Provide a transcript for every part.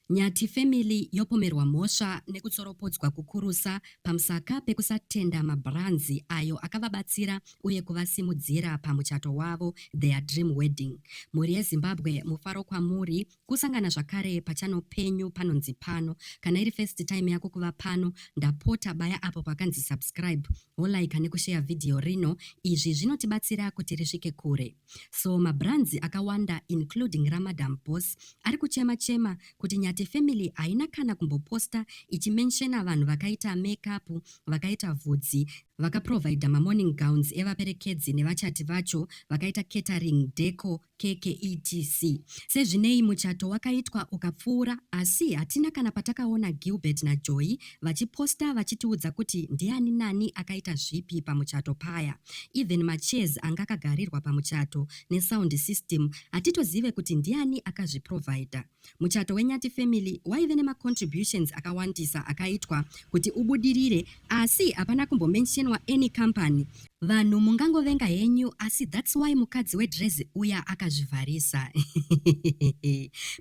Nyathi family yopomerwa mhosva nekutsoropodzwa kukurusa pamusaka pekusatenda mabranzi ayo akavabatsira uye kuvasimudzira pamuchato wavo their dream wedding. Mhuri yeZimbabwe mufaro kwamuri kusangana zvakare pachano penyu panonzi pano. Kana iri first time yako kuva pano ndapota baya apo pakanzi subscribe, wolaika nekusheya video rino izvi zvinotibatsira kuti risvike kure. So mabrands akawanda including ramadam boss ari kuchema chema kuti Nyati family haina kana kumboposta ichimenshena vanhu vakaita makeup, vakaita vhudzi, vakaprovider mamorning gowns evaperekedzi nevachati vacho, vakaita catering, deco, keke etc. Sezvinei muchato wakaitwa ukapfuura asi hatina kana patakaona Gilbert naJoy vachiposta vachitiudza kuti ndiani nani akaita zvipi pamuchato paya even machairs anga akagarirwa pamuchato nesound system hatitozive kuti ndiani akazviprovider. Muchato weNyati family waive nemacontributions akawandisa akaitwa kuti ubudirire asi hapana kumbomentionwa any company vanhu mungangovenga henyu asi thats why mukadzi wedrezi uya akazvivharisa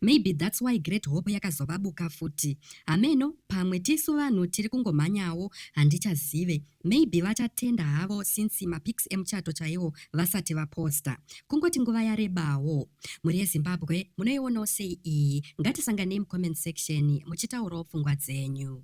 maybe thats why great hope yakazovabuka futi Hameno pamwe tisu vanhu tiri kungomhanyawo handichazive maybe vachatenda havo since mapics emuchato chaiwo vasati vaposta. Kungoti nguva yarebawo. Mhuri yeZimbabwe munoionawo sei iyi? Ngatisanganei mucomment section muchitaurawo pfungwa dzenyu.